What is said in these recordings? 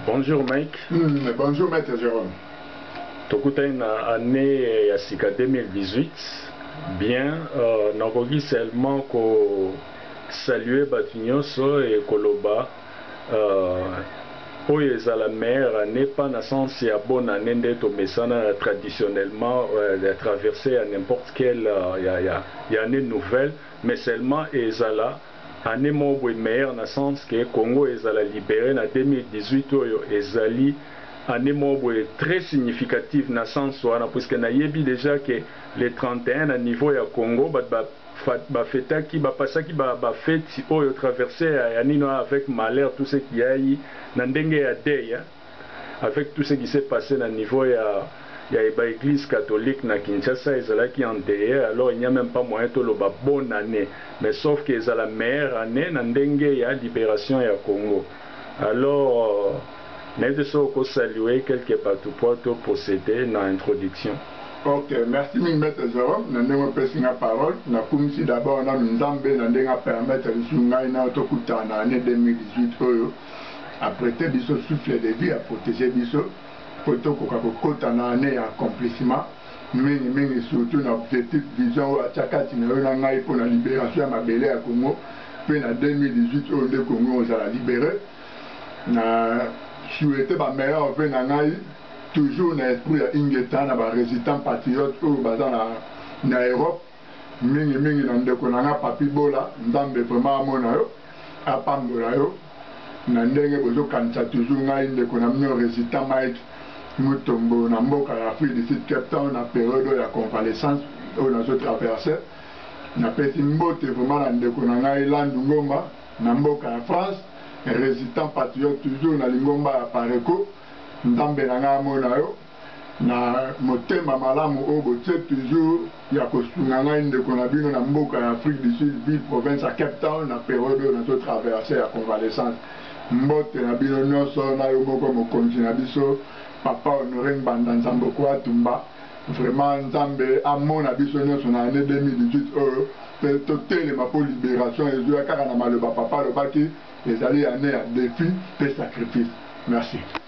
Bonjour Mike. Mm, bonjour Maître Jérôme. tokutani na année ya sika 2018 bien euh, nakoki seulement kosalue bato nyonso e koloba euh, oyo ezala meilleure année pas na sens ya bonne année nde tomesana traditionnellement euh, ya traverse ya n'importe quelle euh, ya, ya, ya année nouvelle mais seulement ezala Annee moko boye meilleure na sens que Congo ezala libere na 2018 oyo ezali annee moko boye très significative na sens wana puisque nayebi dejà que le 31 na niveau ya Congo batu ba ba fetaki ba passaki ba ba fetes oyo traverse ya ya nini wana avec malheur tout ce qui a na ndenge ya deuil avec tout ce qui s'est passe na niveau ya ya ba eglise catholique na Kinshasa ezalaki endeille alors il n'y a meme pas moyen toloba bonne annee mais sauf que ezala meilleure annee na ndenge ya liberation ya Congo alors nayebi te soki oko saluer quelques batu mpo to proceder na introduction. Ok, merci mingi Maitre Jerome na ndenge opesi nga parole. Nakumisi d'abord nanu Nzambe na ndenge a permettre lisusu ngai na yo tokutana na annee 2018 oyo. a prete biso souffle de vie, a proteger biso po tokoka kokota na annee ya accomplissement mingi mingi surtout na objectif vision oyo atia kati na yo na ngai pona liberation ya mabele ya Congo pe na 2018 oyo nde Congo ekozala libere. Na souhaiter ba meilleurs vœux na ngai toujours na esprit ya Ingeta na ba resitants patriotes oyo baza na Europe. mingi mingi na ndeko na nga Papy Bola Nzambe vraiment amona yo apambola yo na ndenge bozo kanisa toujours ngai ndeko na bino Resistant Mike Mutombo na mboka ya Afrique du Sud Cape Town na periode oyo ya convalescence oyo nazo traverser na pesi mbote vraiment na ndeko na ngai Landu Ngomba na mboka ya France Resistant Patriote toujours na lingomba ya Pareco Nzambe na ngai amona yo na motema malamu oyo botie toujours ya kosunga ngai ndeko na bino na mboka ya Afrique du Sud ville province ya Cape Town na periode oyo nazo traverse ya convalescence mbote na bino nionso na yo moko mokonzi na biso papa Honore Ngbanda Nzamboko Atumba vraiment Nzambe amona biso nionso na annee 2018 oyo pe totelema po liberation ezuya kaka na maloba papa alobaki ezali annee ya defi pe sacrifice merci.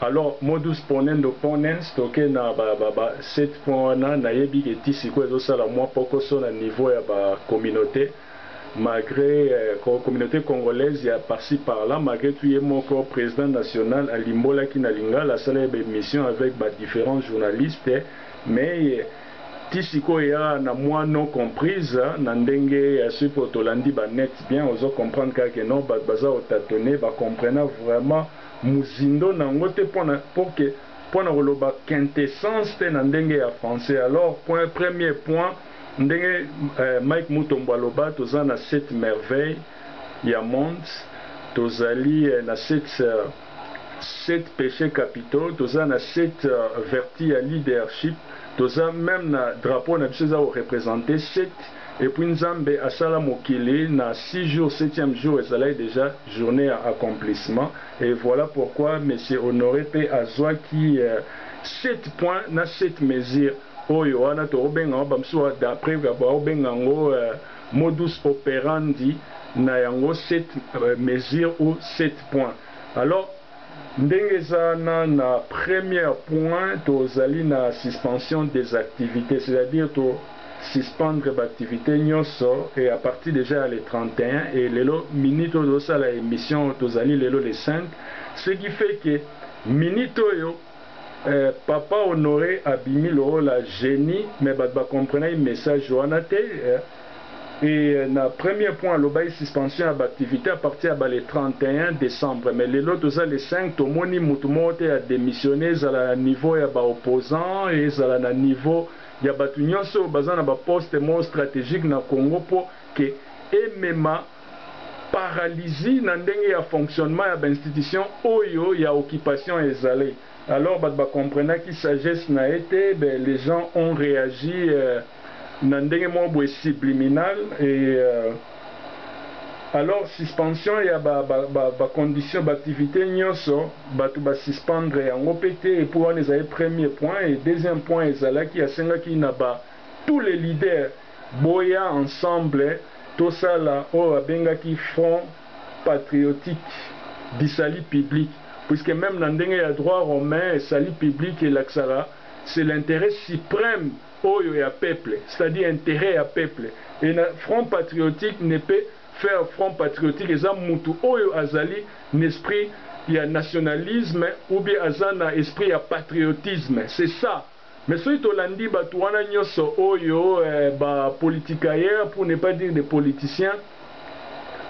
Alors modus ponendo ponens toke na ba ba 7 points wana nayebi ke ti sikoyo ezo sala mua pokoso na niveau ya ba communaute malgre communaute congolaise ya par ci par là malgre tout ye moko president national alimbolaki na lingala asalaki ba emission avec ba differents journalistes mais ti sikoyo eya na mua non comprise na ndenge soki oyo tolandi ba net bien ozo comprendre kaka ke non batu baza ko tatonner ba comprena vraiment mozindo nango te pona pour que pona koloba quintessence te na ndenge ya français alors point premier point ndenge Mike Mutombo aloba toza na sept merveille ya monde tozali na sept sept peche capitaux toza na sept verti ya leadership toza meme na drapeau na biso eza ko representer sept Et puis nzambe asala mokili na six jours septième jour ezalaki dejà journee ya accomplissement et voilà pourquoi monsieur Honore pe azuaki sept points na sept mesures oyo wana toko benga yango ba misusu d'après bao benga yango modus operandi na yango sept mesures ou sept points alors Ndenge eza na na première point to zali na suspension des activites c'est à dire to suspendre ba activites nioso et à partir dejà ya le 31 et lelo minute oyo tozo sala emission tozali lelo le 5 ce qui fait que minute oyo Eh papa honore abimi lokola genie mais batu ba comprenaki message wana te eh et na premier point alobaki suspension ya ba activite à partir ya ba le 31 decembre mais lelo toza le 5 tomoni mutu moko te à demissionne ezala na niveau ya ba opposant ezala na niveau ya batu nionso oyo baza na ba poste moko strategique na Congo po que emema paralysie na ndenge ya fonctionnement ya ba institutions oyo ya occupation ezali alors batu ba comprenaki sagesse na ye te mais les gens ont reagi na ndenge moko boye subliminal et alors suspension ya ba conditions ba activites nionso batu ba suspendre yango pe te et puis wana ezali premier point et deuxième point ezalaki asengaki na ba tous les leaders Boya ensemble tosala oyo abengaki front patriotique du salut public puisque meme na ndenge ya droit romain salut public elakisaka c'est l'interet supreme oyo ya peuple c'est à dire interet ya peuple et na front patriotique ne peut faire front patriotique eza mutu oyo azali n'esprit ya nationalisme ou bien aza na esprit ya patriotisme c'est ça Mais soki tolandi batu wana nyoso oyo ba politicailleurs pour ne pas dire des politiciens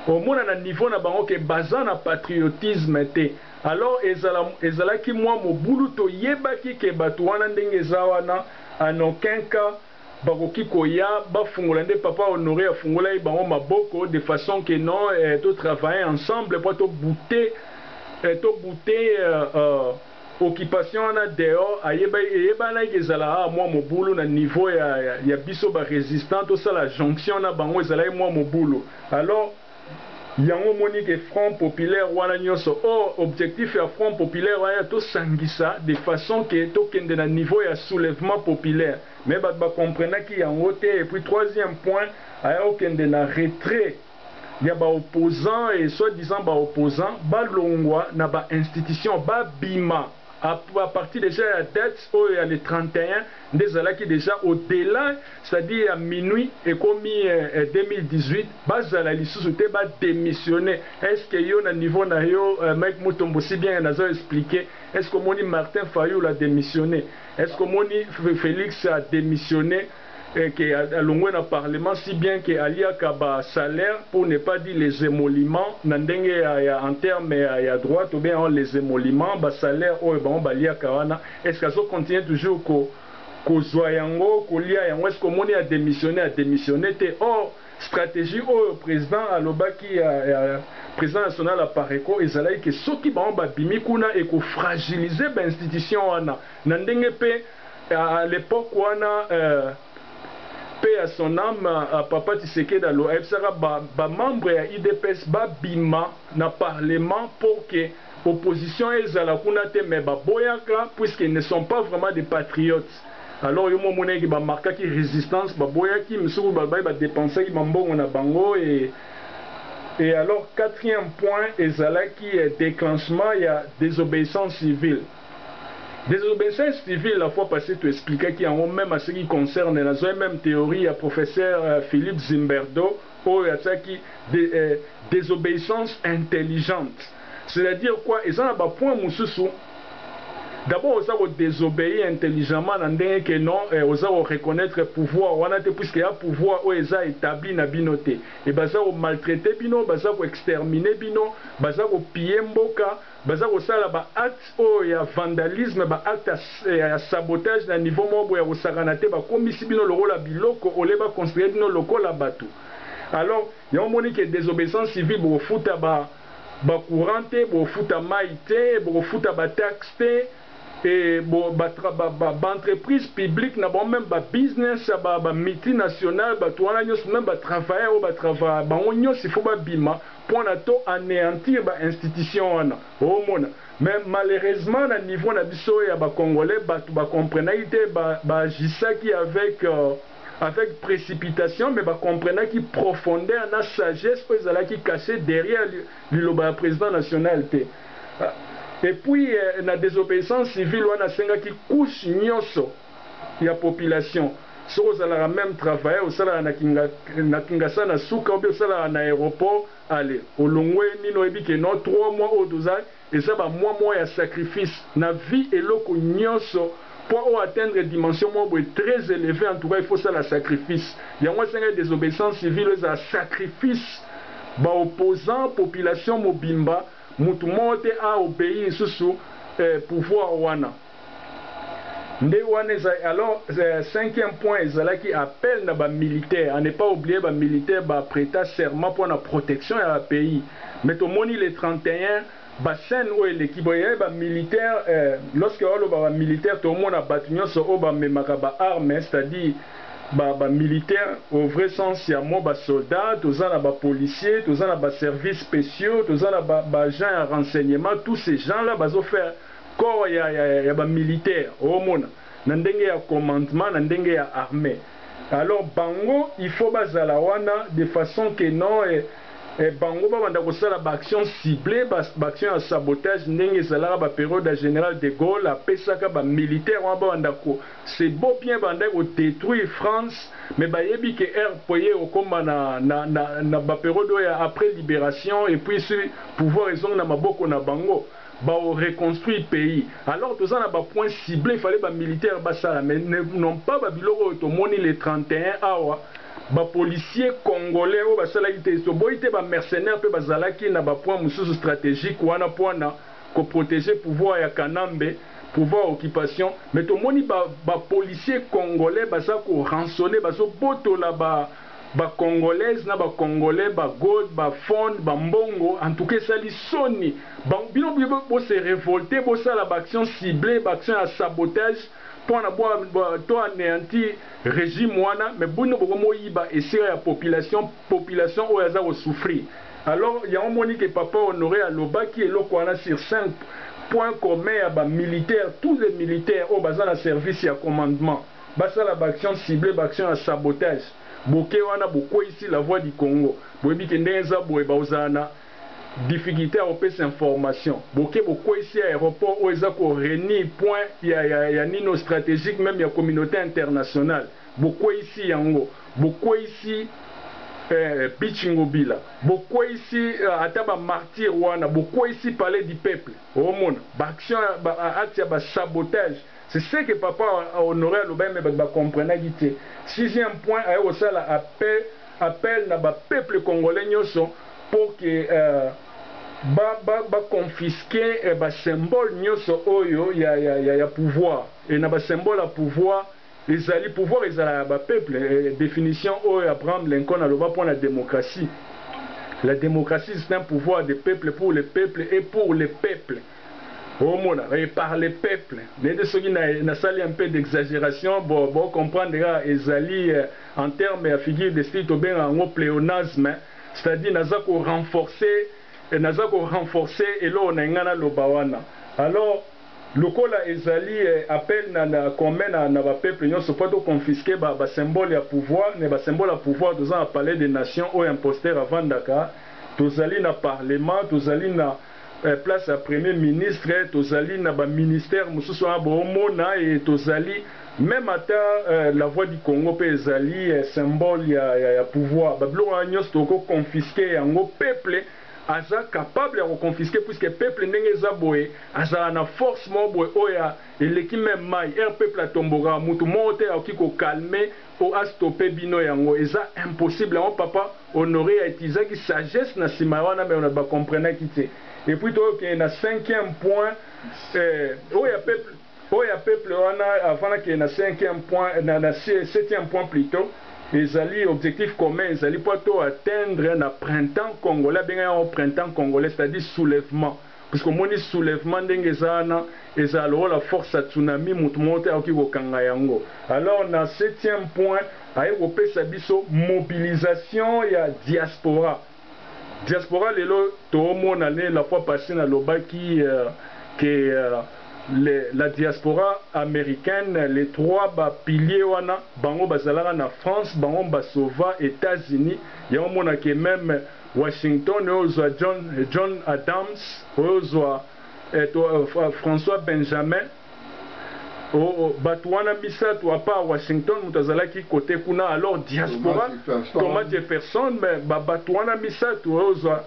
omona na niveau na bango que baza na patriotisme te alors ezala ezalaki mua mobulu toyebaki que batu wana ndenge eza wana en aucun cas bakoki koya bafungola nde papa Honore afungolaki bango maboko de façon que non to travailler ensemble po to bouter to bouter Occupation wana dehors ayeba eyebanaki ke ezalaka kaka mua mobulu na niveau ya ya biso ba resistant tosala jonction na bango ezalaki mua mobulu alors yango omoni ke front populaire wana nionso or objectif ya front populaire wana tosangisa de façon ke tokende na niveau ya soulevement populaire mais batu ba comprenaki yango te et puis troisième point aya kokende na retrait ya ba opposants et soit disant ba opposants balongwa na ba institutions ba bima à partir dejà ya date oyo ya le 31 nde ezalaki dejà au delà c'est à dire ya minuit ekomi 2018 bazala lisusu te ba demissionner est ce que yo na niveau na yo Mike Mutombo si bien nazo expliquer est ce que omoni Martin Fayulu à demissionner est ce que omoni Felix à demissionner et que alongwe na parlement si bien que aliaka ba salaires pour ne pas dire les emoluments na ndenge ya en terme ya droit tobenga yango les emoluments ba salaires oyo bango baliaka wana est ce que azo continuer toujours ko kozua yango kolia yango est ce que omoni a demissionner a demissionner te or strategie oyo president alobaki ya ya president national Apareco ezalaki que soki bango babimi kuna eko fragiliser ba institutions wana na ndenge pe A l'epoque wana euh. Paix à son ame papa Tshisekedi alo ayebisaka ba ba membres ya udps ba bima na parlement pour que opposition ezala kuna te mais ba boyaka puisque ils ne sont pas vraiment des patriotes alors yo moko omonaki que ba marquaki resistance ba boyaki misusu balobaki ba depensaki ba mbongo na bango et Et alors quatrième point ezalaki declenchement ya desobeissance civile. Desobescence civile la fois passee to explikaki yango meme a ce qui concerne nazwaki meme theorie ya professeur Philippe Zimberdo oyo atiaki desobeyissance intelligente c'est à dire quoi eza na ba points mususu d'abord oza ko desobeir intelligemment na ndenge que non oza ko reconnaitre pouvoir wana te puisque ea pouvoir oyo eza etabli na bino te et baza ko maltraiter bino baza ko exterminer bino baza ko piller mboka Baza kosala ba actes oyo ya vandalisme, ba actes ya sabotage na niveau moko boye ya kosakana te, bakomisi bino lokola biloko au lieu ba considere bino lokola batu. Alors yango omoni que desobeissance civile bokofuta ba courant te, bokofuta mayi te, bokofuta ba taxes te. Et bo ba ba entreprises publiques na bango meme ba business ya ba ba multinationales batu wana nionso meme ba travailleurs oyo ba travaillaka bango nionso il faut ba bima pona to aneantir ba institutions wana ozo mona mais malheureusement na niveau na biso ya ba congolais batu ba comprenaki te ba ba agissaki avec avec precipitation mais ba comprenaki profondeur na sagesse oyo ezalaki cache derrière Liloba ya president national te et puis na desobeissance civile wana asengaki couche nyoso ya population soki ozalaka meme travailleur osalaka na kinga na kingasa na suka ou bien osalaka na aeroport alle olongwe nini oyebi que non trois mois oyo toza eza ba mois moko ya sacrifice na vie eloko nyoso Po o atteindre dimension moko boye très elevee en tout cas il faut osala sacrifice yango esengeli desobeissance civile ezala sacrifice ba opposants population mobimba mutu moko te a obeyi lisusu eh pouvoir wana nde wana ezali alors cinquième point ezalaki appel na ba militaires a ne pas oublier ba militaires ba preta serment pona protection ya ba pays mais tomoni le 31 Ba chaine oyo eleki boye eh ba militaire eh lorsque oloba ba militaire to mona batu nionso oyo ba memaka ba armes c'est à dire ba ba militaire au vrai sens ya mot ba soldats toza na ba policiers toza na ba services speciaux toza na ba ba agents ya renseignement tous ces gens là bazo faire corps ya ya ba militaire omona na ndenge ya commandement na ndenge ya armee alors bango il faut bazala wana de façon que non eh bango babanda kosala ba action cible ba action ya sabotage ndenge ezalaka ba periode ya general de Gaulle apesaka ba militaire wana babanda ko c'est beau bien babandaki ko detruire France mais bayebi que RPA ekokoma na na ba periode oyo ya après liberation et puis pouvoir ezongi na maboko na bango Bao reconstruire pays alors toza na ba points cibles il fallait ba militaires basala mais ne n'ont pas ba biloko oyo tomoni le 31 awa ba policiers congolais oyo basalaki te toboyi te ba mercenaires pe bazalaki na ba points mosusu strategiques wana puana ko proteger pouvoir ya kanambe pouvoir occupation mais tomoni ba ba policiers congolais baza ko rançonner bazo botola ba Ba congolaise na ba congolais ba gold ba phone ba mbongo en tout cas esali soni bango bino bo se revolte bosala ba action cible ba action ya sabotage pona bo to aneantir regime wana mais bino boko moyiba esika ya population population oyo aza ko souffrir alors yango omoni ke papa honore alobaki eloko wana sur scene point commun ya ba militaire tous les militaires oyo baza na service ya commandement Basala ba actions ciblees, ba actions ya sabotage. Boke wana bokweyisi la voix du Congo. Boyebi ke ndenge eza boye bakozala na difficulte ya kopesa information. Boke bokweyisi aeroport oyo eza ko reunir point ya ya nini oyo strategique meme ya communaute internationale. Bokweyisi yango. Bokweyisi eh Beach Ngobila. Bokweyisi ata ba martyrs wana. Bokweyisi Palais du peuple. Omona ba actions ba actes ya ba sabotage. C'est ce que papa Honore alobaki mais batu ba comprenaki te. Sixième point aye kosala appel na ba peuples congolais nionso pour que ba confisquer ba symboles nionso oyo ya pouvoir et na ba symboles ya pouvoir ezali pouvoir ezalaka ya ba peuples definition oyo Abraham Lincoln aloba pona democratie la democratie c'est un pouvoir des peuples pour les peuples et pour les peuples. Ozo mona et par les peuples nayete soki na sali un peu d'exageration bo bo comprendre kaka ezali en terme ya figure de style tobengaka yango pleonasme c'est à dire naza ko renforcer naza ko renforcer eloko na linga na loba wana alors lokola ezali appel na na commun na na ba peuples nionso po to confisquer ba ba symboles ya pouvoir mais ba symboles ya pouvoir toza na palais de nation oyo imposteur avandaka tozali na parlement tozali na place ya premier ministre tozali na ba ministère mosusu wana boomona et tozali meme ata la voix du Congo pe ezali symbole ya ya pouvoir ba biloko wana nionso toko confisque yango peuple aza capable ya ko confisque puisque peuple ndenge eza boye azala na force moko boye oyo eleki meme mayi heure peuple atombokaka mutu moko te akoki ko calme Po a stopper bino yango eza impossible yango papa Honore a utilisaki sagesse na sima ya wana mais on ne ba comprenaki tse et puis to kende na cinquième point eh oyo ya peuple oyo ya peuple wana avant na kende na cinquième point na na septième point plutot ezali objectif commun ezali po to atteindre na printemps congolais abenga yango printemps congolais c'est à dire soulevement Puisque omoni soulevement ndenge eza wana ezala lokola force ya tsunami mutu moko te akoki kokanga yango alors na septième point aye kopesa biso mobilisation ya diaspora diaspora lelo toomona nde la fois passee nalobaki que les la diaspora americaine les trois ba piliers wana bango bazalaka na France bango ba sauva Etats-Unis yango omona que meme Washington oyo zwa John, John Adams oyo zwa eh, to, uh, François Benjamin o, o, bato wana misato à part Washington moto azalaki cote kuna alors diaspora Thomas Jefferson mais ba bato wana misato oyo zwa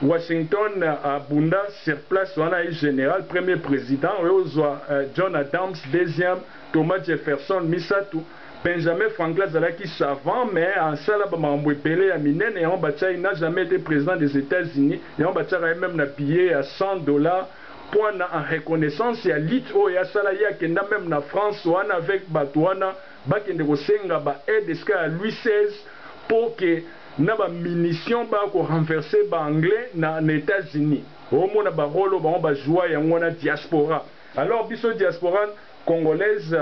Washington abunda sur place wana ayi general premier president oyo zwa eh, John Adams deuxième Thomas Jefferson misato Benjamin Franklin azalaki savant mais asala ba makambo ebele ya minene yango batia ye n'a jamais ete president des Etats Unis yango batiaka ye meme na billet ya 100 dollars point na en reconnaissance ya lutte oyo ye asala ye akenda meme na France wana avec batu wana bakende kosenga ba aide esika ya Louis 16 pour que na ba munitions baya ko renverser ba anglais na na Etats Unis omona ba role oyo bango ba joua yango wana diaspora alors biso diaspora Congolaise,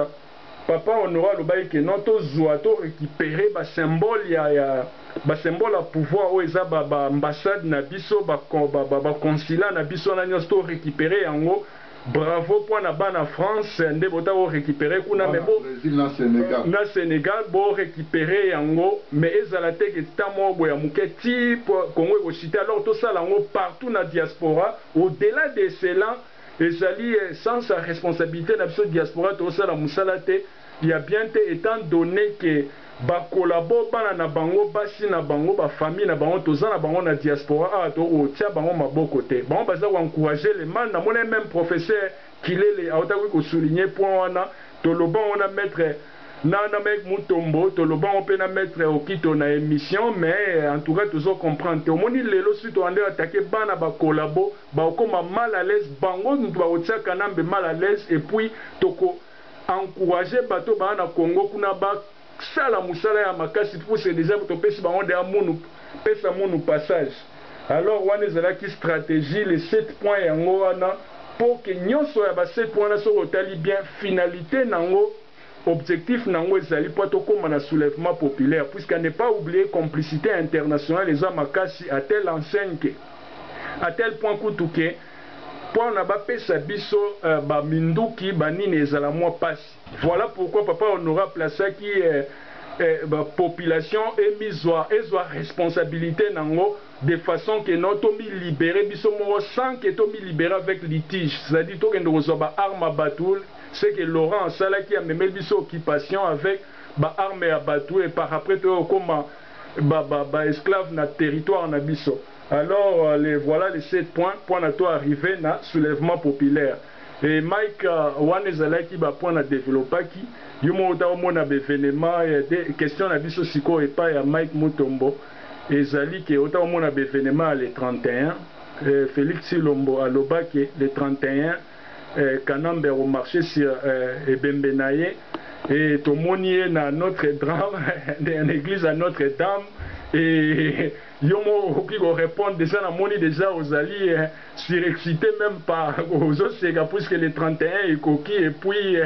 Papa Honore alobaki que non to zua, to recuperer ba symboles ya ya ba symboles ya pouvoir oyo eza ba ba ambassades na biso, ba ba consulats na biso wana nionso to recuperer yango. Bravo po na bana France nde botaki ko recuperer kuna mais bo na Senegal bo recuperer yango mais ezala te que temps moko boye ya muke tii Congo eko chuter alors tosala yango partout na diaspora au delà de cela. Ezali ye sans sa responsabilite na biso diaspora tozo sala musala te ya bien te etant donne que ba collabo bana na bango basi na bango ba famille na bango toza na bango na diaspora awa tokoki ko tia bango maboko te bango baza ko encourager le mal na monaki meme professeur kilele autaki ko souligner point wana toloba yango na maitre Na na Mike Mutombo toloba ngo pe na maitre Okito na emission mais en tout cas tozo comprendre te omoni lelo soki to bandi ko attaquer bana ba collabo bako koma mal à l'aise bango mutu bako tia Kanambe mal à l'aise et puis toko encourager batu oyo baza na Congo kuna ba sala musala ya makasi puisque dejà topesi bango dejà munu pesa munu passage. Alors wana ezalaki strategie les sept points yango wana pour que nionso ya ba sept points wana soki otali bien finalite nango objectif nango ezali po tokoma na soulevement populaire puisque à ne pas oublier complicite internationale eza makasi à telle enseigne que à telle point kutu que pona bapesa biso ba minduki ba nini ezala mua pasi. Voilà pourquoi papa Honore a placaki ba population emizua ezua responsabilite nango de façon que non to mi liberer biso moko sans que to mi liberer avec litige c'est à dire tokende kozua ba armes ya batu ce que Laurent asalaki amemeli biso occupation avec ba armes ya batu et par après toya kokoma ba esclaves na territoire na biso alors le voilà le sept point po na to arriver na soulevement populaire. Hee Mike wana ezalaki ba points na developpaki, yo moko ata omona ba evenements ya te, question na biso sikoyo epayi ya Mike Mutombo ezali ke ota omona ba evenements ya le 31 Felix Tshilombo aloba ke le 31 Kanambe ako marcher sur ebembe na ye et tomoni ye na Notre Drame na eglise ya Notre Dame et Yo moko okoki ko repondre dejà na moni dejà ozali surexcite meme pas ozo seka puisque le 31 ekoki et puis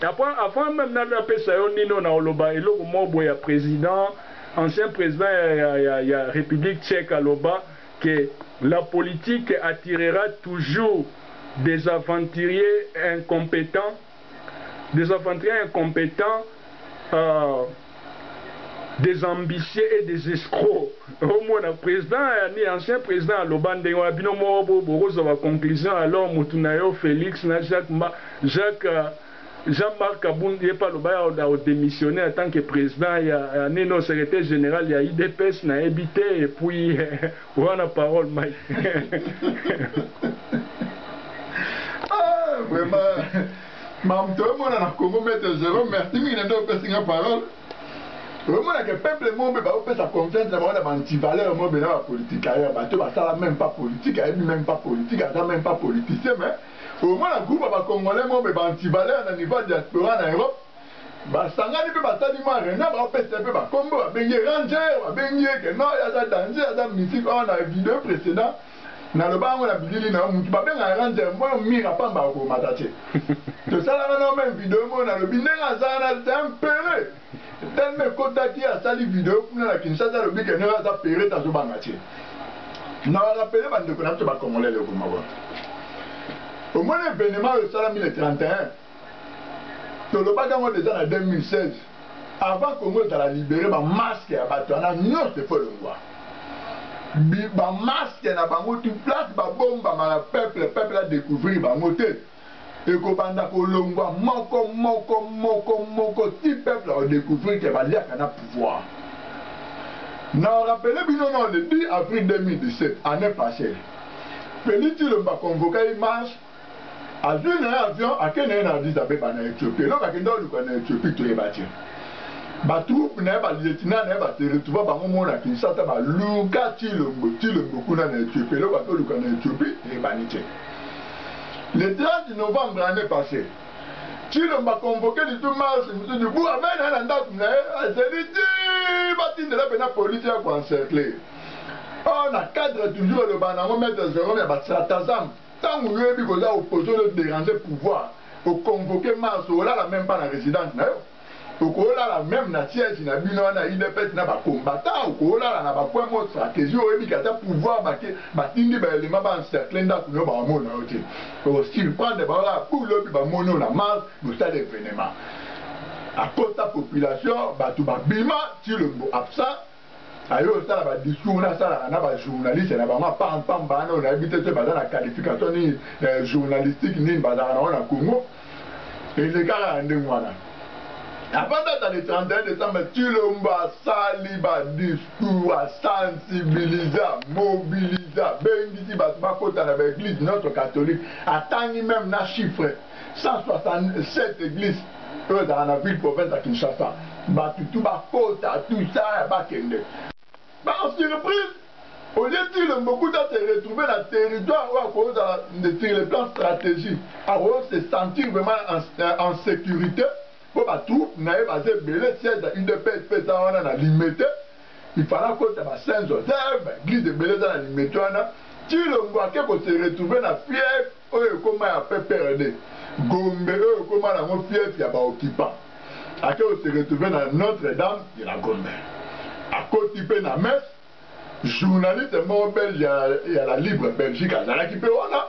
après avant meme na na pesa yo nino na oloba eloko moko boye ya president ancien president ya ya ya ya republique tchèque aloba que la politique attirera toujours des aventuriers incompetents Des aventuriers incompetents euh des ambitieux et des escrocs omona president ya nini ancien president aloba ndenge wana bino moko bo bokozwa ba conclusion alors mutu nayo Felix na Jacques mba Jacques Jean Marc kabund ye pe aloba ya ako demissionner en tant que president ya ya nini oyo secretaire general ya udps nayebi te et puis Wana parole mai. ah, vraiment. Mam to mona na Congo maître Jérôme merci mingi ndio pesi nga parole. Omona ke peuple mombe ba opesa confiance na bana banti valeur mombe na ba politique ailleurs ba to ba sala même pas politique ayebi même pas politique aza même pas politicien mais omona groupe ba congolais mombe banti valeur na niveau diaspora na Europe basangani mpe basali ma reunion baopesa mpe bakombo babengi ye ranger babengi ye ke no ye aza danger aza mystique or na video precedent naloba yango na bilili na yo motu babenga ranger mpo mira pamba akomata te tosalaka na meme video moko nalobi ndenge aza wana c'est un pere telme ekotaki asali video kuna na kinshasa alobi ke ndenge aza pere tazobanga te na barapele bandeko na biso bakongolele komoko omoni evenema oyo esalami le 31 tolobaki yango deja na 2016 avant congo ezala libere bamaske ya bato wana nyonso efo elongwa bamaske na bango tu place babombama na peuple peuple adecouvrir bango te ekobanda kolongwa moko moko moko moko ti peuple akodecouvrir ke baliaka na pouvoir na rappele bino non le 10 avril 2017 année passée felix ilomba convoka ye marche azui na ye avion ake na ye na Addis Abeba na Ethiopie. Eloko akenda oluka na Ethiopie toyeba te. Ba troupes na ye ba lieutenant na ye ba se retrouva bango moko na Kinshasa ba luka Tshilombo Tshilombo kuna na Ethiopie. Eloko ake oluka na Ethiopie eyebani te. Le 30 novembre annee passee Tshilombo a convoque litu marche mosusu bu amena ye na ndako na ye azeli ti batindela pena police ya ko encercler. Or na cadre toujours elobana na yango maître Jerome ya ba stratagèmes Tangu yo oyebi koza opposition ozo deranger pouvoir o convoquer Mars olala meme pas na residence nayo oko lala meme na siège na bino wana udps na ba combattants oko lala na ba coin moko strategie oyebi ke ata pouvoir bake batindi ba element ba encercler ndaku nayo bako mona yo te oko surprendre bango kaka bou lobi ba moni yo na Mars bosali evenement akosa population batu ba bima tshilombo absent Aye osala ba discours wana asalaka na ba journaliste na bango apam pam bana oyo nayebi te soki baza na qualification nini eh, journalistique nini bazalaka nango na Congo eleka kaka ndenge wana apanda ata le 31 décembre Tshilombo asali ba discours a sensibilisa mobilisa bengisi bato bakota na ba église notre catholique atangi meme na chiffre 167 eglises oyo ezalaka na ville province ya Kinshasa, batu tout bakota tout ça bakende. Par surprise, olie Tshilombo kutu a se retrouver na territoire oyo akoki kozala sur le plan strategie akoki se sentir vraiment en securite mpo ba troupes na ye baza ebele, siège ya udps mpe eza wana na Limete, il fallait akota ba Saint Joseph, ba eglises ebele eza na Limete wana, Tshilombo ake ko se retrouver na fief Oyo ekoma ya PPRD. Gombe oyo ekoma nango fief ya ba occupants. Ake ko se retrouver na Notre Dame de la Gombe. Akoti pe na messe. Journaliste moko belge ya ya la libre Belgique azalaki pe wana.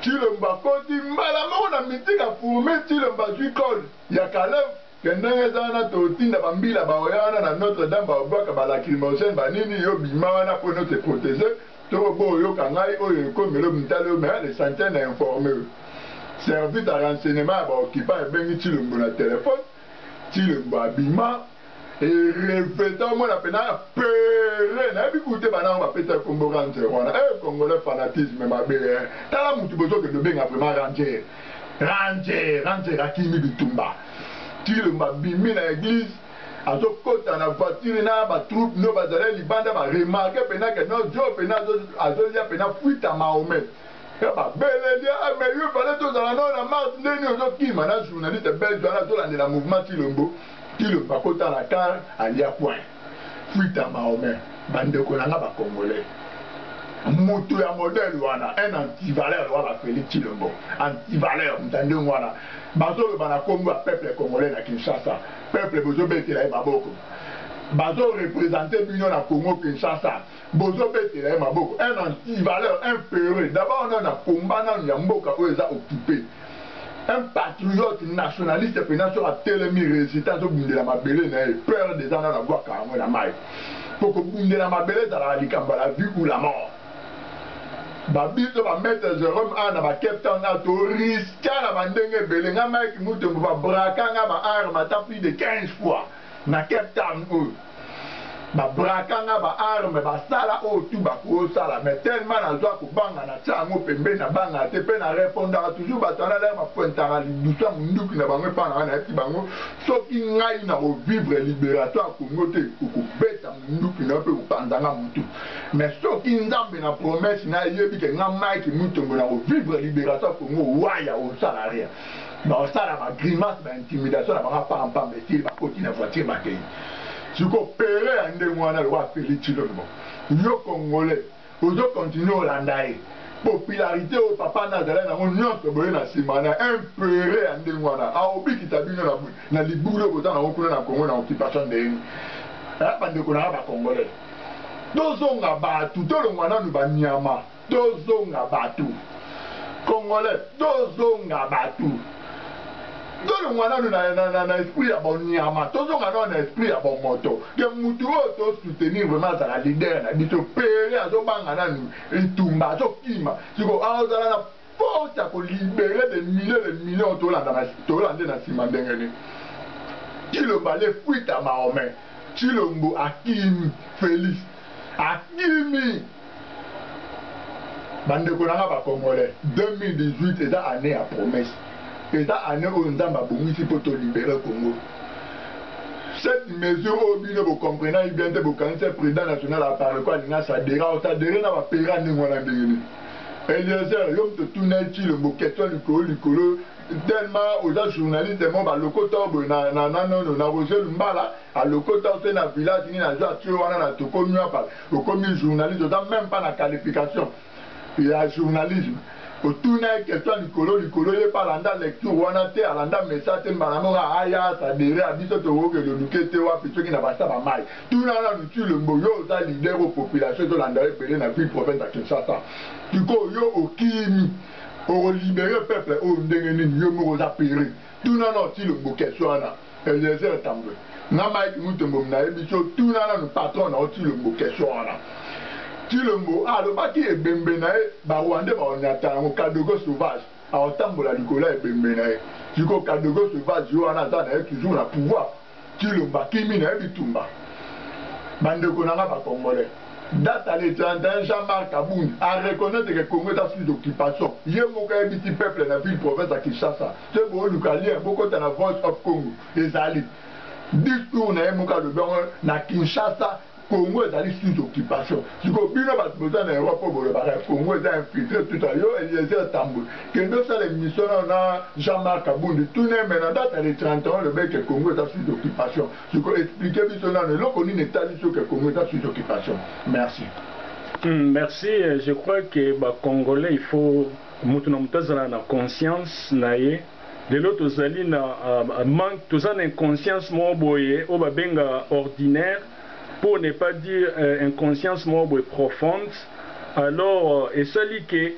Tshilombo akoti mbala moko na meeting a fourmille Tshilombo azui call ya Kalev. Pe ndenge eza wana totinda ba mbila baoya wana na notre dame baobwaka ba lacrimogene ba nini yo bima wana po no te proteger to bo oyoka ngai oyo ekomi elobi ntali yo mais le santien na informe yo service ya renseignement ya ba occupant ebengi tshilombo na telephone tshilombo abima e reveta omona pena pere nayebi kute bana yango bapesa kombo ranger wana eh congolais fanatisme mabe eh tala mutu bozokende obenga vraiment ranger Ranger ranger akimi bitumba tshilombo abimi na eglise azo kota na voiture na ba troupes no bazalai libanda ba remarque pena ke no djo pena azo lia pena fuite a mahomet pe ba beleli ah mais yo fallait tozala no na mars nde ni ozo kima na journaliste belge wana azo landela mouvement tshilombo tshilombo akota na car alia coin fuite ya Mahomet ba ndeko na nga ba congolais moto ya modèle wana un antivaleur lokola Felix Tshilombo antivaleur moto ya ndenge wana bazoloba na kombo ya peuple congolais na Kinshasa peuple bozobetela ye maboko bazo represente bino na Congo Kinshasa Bozo betela ye maboko un anti valeur un peureux d'abord nanu na combat nanu ya mboka oyo eza occupe un patriote nationaliste penza soki atelemi resiste azo bundela mabele na ye peur deza nanu abuaka yango na mayi po kobundela mabele ezalaka likambo ya la vie ou la mort ba biso ba maitre Jerome awa na ba Cape Town awa to riska na ba ndenge ebele nga Mike Mutombo ba braka nga ba arme ata plus de 15 fois na Cape Town oyo ba braka nga ba arme ba sala oyo tout ba ko sala mais tellement na zwa ko banga na tia yango pembeni na banga te pe na repondaka toujours batu wana leur ba pointaka lidusu ya munduki na bango epa nanga na yebisi bango soki ngai na ko vivre liberation ya Congo te oko beta munduki na yo pe opanza nga mutu mais soki nzambe na promesse na yebi ke nga Mike Mutombo na ko vivre liberation ya Congo waya osala rien Baosala ba grimace ba intimidation na banga pamba pamba esili bakoti na voiture bakeyi. Siko pere ya ndenge wana lokola Felix Tshilombo yo congolais ozo continuer olanda ye? Popularite oyo papa na azalaki nango nionso boye na sima na un pere ya ndenge wana akobikisa bino na na libulu oyo boza nango kuna na Congo na occupation ndenge nini eh? Bandeko na nga ba congolais tozonga batu tolongua nanu ba niama. tozonga batu congolais tozonga batu tolongwa nanu na, na, na, na esprit ya bonyama tozonga nanu na esprit ya bomoto ke mutu oyo tosoutenir vraiment azala leader na biso pere azobanga nanu etumba azokima siko aozala na force ya ko libere des milliers de millions tolanda na tola nde na sima ndenge nini Tshilombo ale fuite à Mahomet Tshilombo akimi Felix akimi bandeko na nga ba congolais 2018 eza année ya promesse eza année oyo nzambe abongisi mpo tolibere congo cette mesure oyo bino bocomprenaki bien te bokanisi president national aparekwa alinga sadera osadere na bapera ndenge wana ndenge nini Eliezer yo moto otuna ye tshilombo question likolo likolo tellement oza journaliste mo balokota yo boye na na na nono na Roger Lumbala alokota yo te na village ni na joie tio wana na toko nuapa okomi journaliste oza même pas na qualification ya journalisme otuna ye question likolo likolo ye pa alanda lecture wana te alanda message te mbala moko aya sadere ya biso tokoki eloduke te wapi soki na basa ba mai Tuna nanu Tshilombo yo oza leader oyo population ezo landa yo ebele na ville province ya Kinshasa sikoyo yo okimi oko libere peuple oyo ndenge nini yo moko oza pere tuna nanu Tshilombo question wana Eliezer Tambwe na Mike Mutombo munayebisi yo tuna nanu patron na yo Tshilombo question wana Tshilombo alobaki ebembe na ye ba Rwandais bako nyata yango Kadogo sauvage akotambola likolo ya ebembe na ye sikoyo Kadogo sauvage yo wana aza na ye toujours na pouvoir Kilo bakimi naye bitumba ba ndeko na nga ba congolais date le 31 Jean Marc kabund a reconnaitre que Congo eza sous occupation ye moko ayebisi peuple na ville province ya Kinshasa ke boluka lien bokota na voice of Congo ezali discours naye moko alobi yango na Kinshasa Congo ezali sous occupation sikoyo bino batu boza na Europe oyo bolobaka Congo eza infiltre tout ça yo Eliezer tambwe kende osala emission nao na Jean Marc Kabundi tuna ye mais na date ya le 31 olobaki ke Congo eza sous occupation sikoyo explique biso nanu eloko nini etalisi yo ke Congo eza sous occupation merci. Hum merci je crois que ba congolais il faut mutu na mutu azala na conscience na ye. Lelo tozali na manque, toza na inconscience moko boye oyo ba benga ordinaire pour ne pas dire inconscience moko boye profonde alors esali que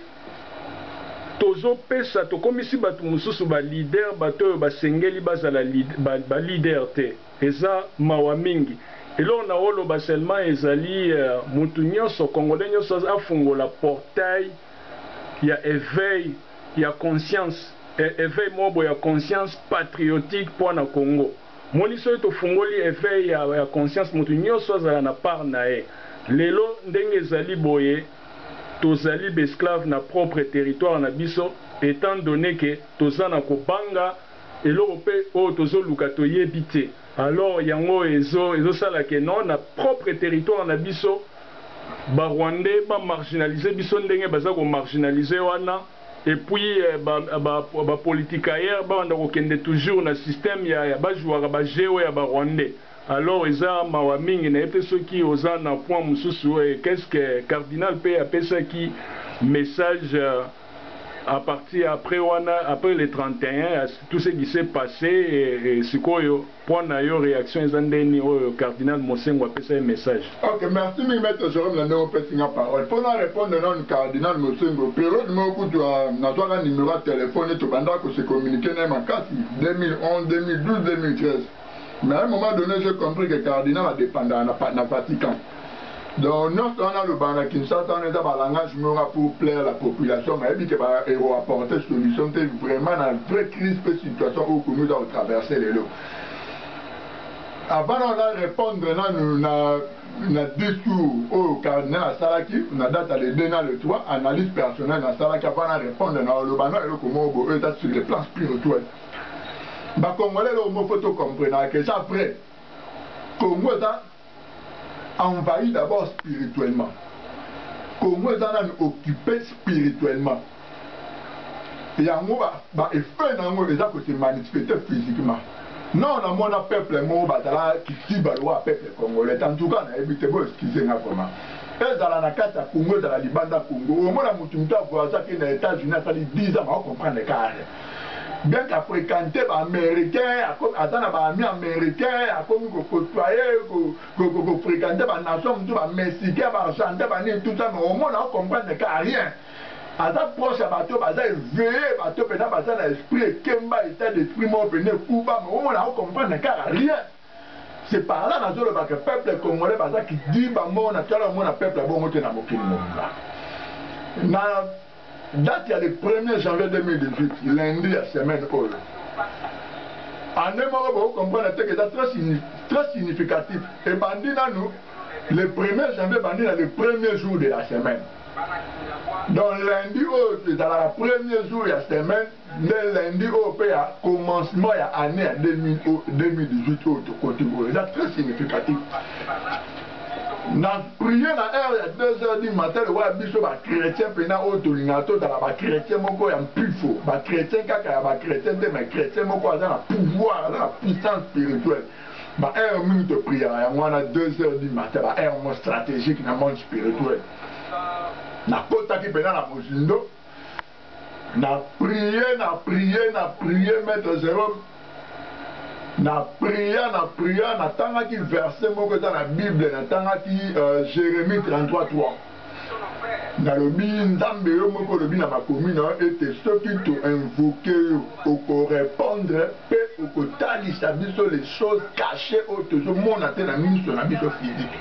tozo pesa, tokomisi batu mususu ba leader batu oyo basengeli bazala ba leader te. Eza mawa mingi. Eloko nako loba seulement ezali mutu nionso, congolais nionso afungola portail. ya eveil ya conscience eveil moko boye ya conscience patriotique po na Congo moni soki tofungoli eveil ya conscience moto nioso azala na part na ye lelo ndenge ezali boye tozali b'esclaves na propre territoire na biso etant donne que toza na kobanga eloko pe oyo tozoluka toyebi te. Alors yango ezo ezo sala que non na propre territoire na biso ba rwandais ba marginaliser biso ndenge baza ko marginaliser wana et puis ba ba ba politicaires ba banda ko kende toujours na système ya ya ba jouaka ba jeux oyo ya ba rwandais alors eza mawa mingi na ye pe soki oza na point mususu et qu'est ce que cardinal pe apesaki message A partir ya après wana, après le 31 ya tout ce qui s'est passe, sikoyo point na yo reaction eza ndeni oyo cardinal Monsengwo apesa ye message? Ok, merci mingi maitre Jerome na ndenge opesi nga parole. Po na repondre nanu cardinal Monsengwo, periode moko kutu nazwaka numero ya telephone ye, tobandaka ko se communiquer na ye makasi, 2011, 2012, 2013. Mais à un moment donne, j'ai compris que cardinal a dépendaka na, na Vatican. Donc, nyonso wana alobaka na Kinshasa wana eza ba langage moko pour plaire la population, mais ayebi ke ba eko apporter solution te vraiment na vraie crise pe situation oyo Congo eza ko traverser lelo. Avant na répondre nanu na na discours oyo cardinal asalaki na date ya le 2 na le 3 analyse personnelle nasalaki avant na répondre na oloba na eloko moko boye oyo eza sur le plan spirituel ba congolais eloko moko faut to comprenaka que eza vrai congo eza envahi d'abord spirituellement congo eza nanu occupe spirituellement yango ba effet na yango eza kose manifeste physiquement non namona peuple moko bazala kitiba lokola peuple congolais en tout cas nayebi te bo excuse nga vraiment ezala na kati ya congo ezala libanda congo omona motu motu avoyage akenda etats-unis asali 10 ans baocomprendre kare bien qu'à fréquenter ba américains aza na ba amis américains akomi ko côtoyer ko ko ko fréquenter ba nations mutu ba mexicains ba argentins ba nini tout ça mais omona o comprendre ka rien aza proche ya bato baza éveillé bato pena baza na esprit ekemba état d'esprit moko pena ekuba mais omona o comprendre ka rien c'est par là nazoloba que peuple congolais baza kidiba moko na tala omona peuple abongo te na mokili mobimba na Date ya le premier janvier 2018, lundi ya semaine oyo, annee moko boko comprendre te que eza très très significatif, ebandi nanu le premier janvier ebandi na le premier jour de la semaine. Donc lundi oyo ezalaka premier jour ya semaine. nde lundi oyo mpe ya commencement ya année ya 2018 oyo tokoti oyo eza très significatif na priye na heure ya 2 heures du matin lokola biso bachrétien mpena oyo tolingaka tozala bachrétien moko ya mpifo bachrétien kaka ya bachrétien te mai chrétien moko aza na pouvoir aza na puissance spirituelle baheure mingi topriyaka yango wana 2 heures du matin baheure moko stratégique na monde spirituel nakotaki mpena na mozindo Na prier na prier na prier maitre Jerome na pria na pria na tangaki verse moko eza na bible na tangaki uh, Jeremie 33 3 nalobi nzambe yo moko olobi na makomi na yo ete soki to invoke yo okorepondre mpe okotalisa biso les choses cache oyo tozomona te na miso na biso physique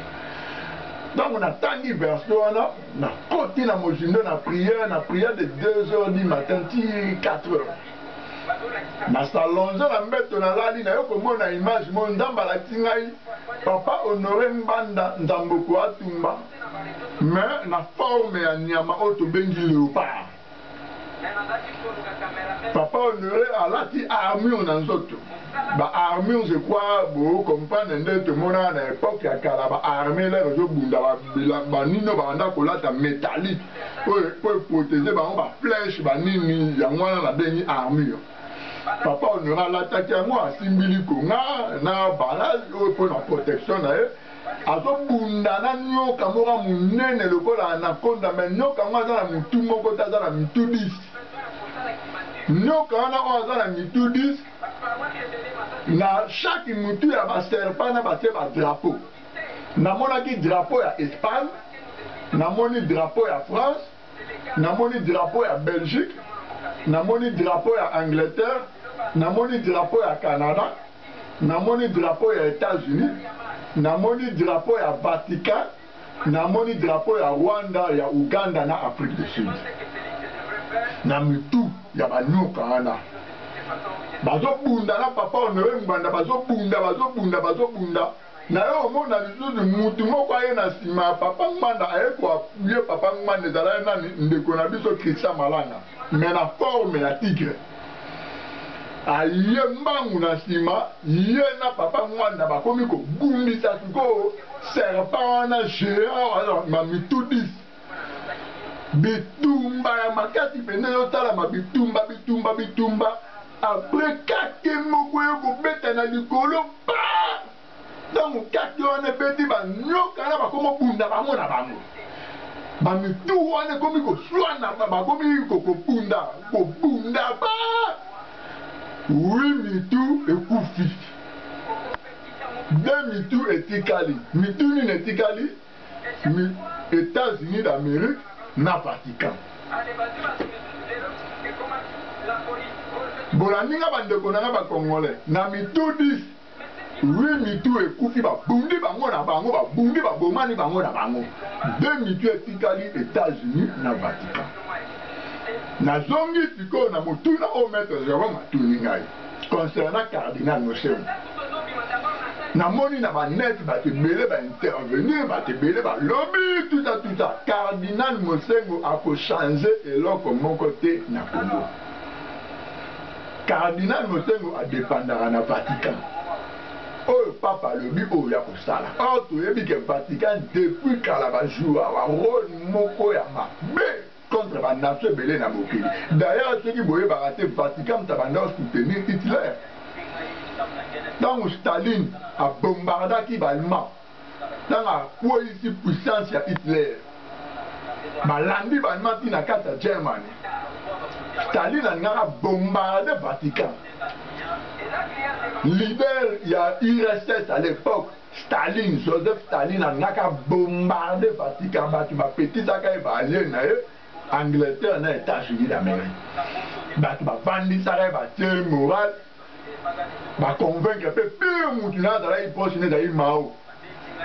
ntango natangi verse wana Na koti na mozindo na prière, na prière de 2 heures du matin ti 4 heures. Na s'allonger na mbeto na lali na yo komona image mo Nzambe alakisi ngai papa Honore Ngbanda Nzamboko Atumba mais na forme ya nyama oyo tobengi leopard. Papa honore alati armure na nzoto ba armures ekwa bo comprendre nde tomonaka na epoque ya kala ba armee lere ezobunda banino babanda kolata metallique oyo po eprotege bango ba flèche banini yango wana nabengi armure papa honore alataki yango asimbi likonga na barrage oyo mpo na protection na ye Azobunda na nyoka moko ya munene lokola anaconda mais nyoka yango aza na mutu moko te aza na mitu 10. Nyoka wana oyo aza na mitu 10 na chaque mutu ya ba serpent na batie ba drapeau. Namonaki drapeau ya Espagne, namoni drapeau ya France, namoni drapeau ya Belgique, namoni drapeau ya Angleterre, namoni drapeau ya Canada. Namoni drapeau ya Etats Unis, namoni drapeau ya Vatican, namoni drapeau ya Rwanda, ya Ouganda na Afrique du Sud. Na mitu ya ba nyoka wana. Bazo bunda na papa Honore Ngbanda, bazo bunda, bazo bunda, bazo bunda. Nayo omona lisusu mutu moko aye na sima ya papa Ngbanda aye ko appuyer papa Ngbanda ezalaki nani ndeko na biso Christian Malanga mais na forme ya tigre aye mbangu na sima ye na papa Ngbanda bakomi kobundisa sikoyo serpent wana geant wana na mitu 10 bitumba ya makasi mpenza ezosalama bitumba bitumba bitumba apres kake moko yo kobeta na likolo pa ntango kake wana ebeti banyoka na bakomobunda bango na bango bamitu wana ekomi koswana bakomi kobunda kobunda ba wi mitu ekufi de mitu etikali mitu nini etikali mi Etats-Unis d'Amerique na Vatican. Bolaninga ba ndeko nanga ba congolais na mitu 10 8 mitu ekufi ba bundi bango na bango ba bundi ba bomani bango na bango de mitu etikali Etats-Unis na Vatican. Nazongi sikoyo na motuna oyo Maître Jerome atuni ngai. Concernant Cardinal Mosengo, namoni na ba net bato ebele ba intervenir, bato ebele balobi tuta tuta, Cardinal Mosengo ako changer eloko moko te na Congo. Cardinal Mosengo a dependaka na Vatican. Oyo Pape alobi oyo ya kosala. Or toyebi ke Vatican depuis kala ba jouaka role moko ya mabe. contre ba nation ebele na mokili d'ailleurs soki boyebaka te Vatican mutu abanda ko soutenir Hitler tangu Staline a bombardaki ba allemand tangu akweyisi puissance ya Hitler balandi ba allemand ti na kati ya Germany Staline alingaka bombarde Vatican leader ya URSS à l'époque Staline, Joseph Staline alingaki a bombarder Vatican, batu ba pekisaka ye, ba allies na ye, Angleterre na Etats Unis d'Amerique. Batu ba vandisaka ye, ba tie ye morale, ba convaincre pe pire mutu naye azalaki proche na ye ezalaki Mao.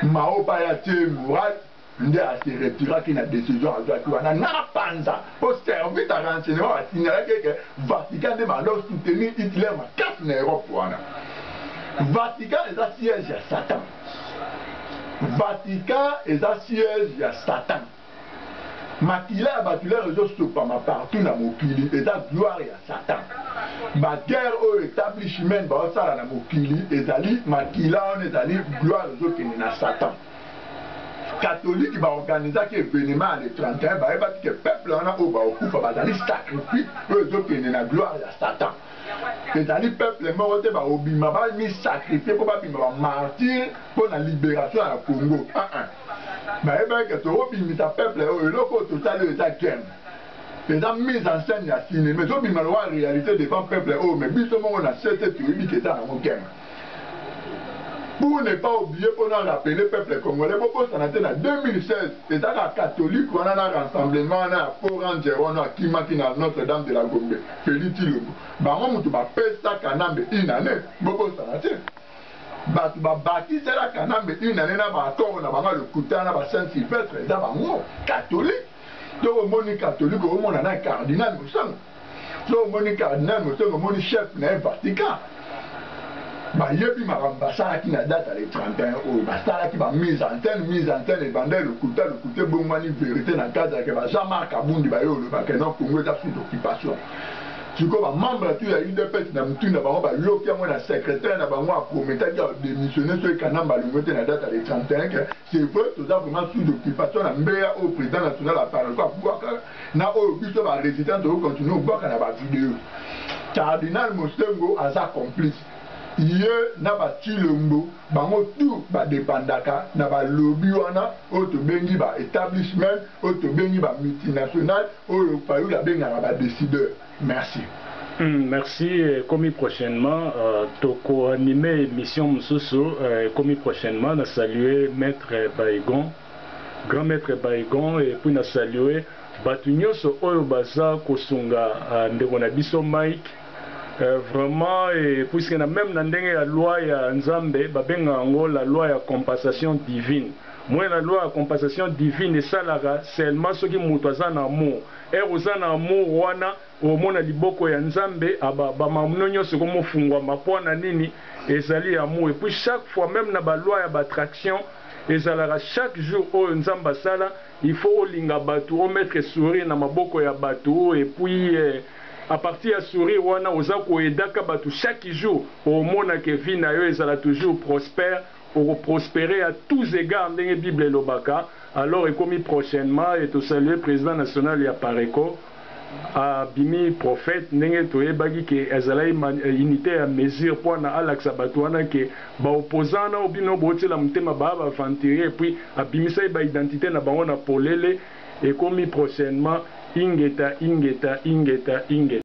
Mao pe aya tie ye morale. nde a se retiraki na decision azuaki wana na panza po service ya renseignement ba signalaki ye ke Vatican nde ba lo soutenir Hitler makasi na Europe wana. Vatican eza siège ya Satan. Vatican eza siège ya Satan. Makila ya batu lelo ezo sopama partout na mokili eza gloire ya Satan. Ba guerre oyo etablishment bazo sala na mokili ezali makila wana ezali gloire ezo kende na Satan. catholique ba organisaki evenement ya le 31 bayebaki ke peuple wana oyo baokufa bazali sacrifice oyo ezokende na gloire ya satan ezali peuple moko te baobima bamisacrifie mpo babima bamartire mpo na liberation ya congo uh -uh. bayebaki ke tokobimisa peuple oyo eloko oyo tosali oyo eza game eza mise en scène ya cinéma ezobima lokola réalité devant peuple oyo me biso moko na sese toyebi ke eza yango game pour ne pas oublier mpo na rappeler peuple congolais bobosana te na 2016 eza kaka catholique wana na rassemblement wana ya faux ranger wana akimaki na notre dame de la gombe felly tshilombo bango mutu bapesa kanambe une annee bobosana te bato babatisela kanambe une annee na baaccord na bango lokuta na ba saint sylvestre eza bango catholique to omoni catholique omona na cardinal mosango so omoni cardinal motongo omoni chef na ye vatican bayebi makambo basalaki na date ya le 31 oyo basalaki bamise en scène mise en scène ebanda elokuta lokuta ebongwani verité na cadre yake ba jean marc abundi baye olobaka non congo eza sous occupation sikoyo bamembre tu ya udps na motu na bango bayoki yango na secrétaire na bango aprometaki ya démissionne soki kanamba alongo te na date ya le 31 ke c'est vrai toza vraiment sous occupation na mbeya oyo président national apareco abwaka na oyo biso ba resitants tozo continuer kobwaka na ba videos. Cardinal Mosengwo aza complice, ye na ba Tshilombo bango tout ba dependaka na ba lobby wana oyo tobengi ba etablishment, oyo tobengi ba multinationales oyo Fayulu abengaka ba decideurs. Merci. Hum merci ekomi prochainement toko anime emission mususu ekomi prochainement na salue maitre Baygon. Grand maitre Baygon et puis na salue batu nionso oyo baza kosunga ndeko na biso Mike vraiment et puisque na meme na ndenge ya loi ya nzambe ba benga yango la loi ya compensation divine moi la loi ya compensation divine esalaka seulement soki mutu aza na amour heure oza na amour wana Omona liboko ya nzambe aba ba mamno nionso eko mofungwama po na nini ezali ya mu epuis chaque fois meme na ba loi ya ba traction ezalaka chaque jour oyo nzambe asala il faut olinga batu o mettre sourire na maboko ya batu epuis a partir ya sourire wana oza ko edaka batu chaque jour omona ke vie nayo ezala toujours prospère Oko prosperer à tous egards ndenge bible elobaka alors ekomi prochainement et to saluer president national ya Pareco a bimi prophète ndenge to yebaki ke azalaki unite ya mesure po na alakisa batu wana ke ba opposants nao bino bo tiela motema ba ba aventurier et puis a bimisaki ba identite na bango na polele ekomi prochainement ingeta ingeta ingeta ingeta.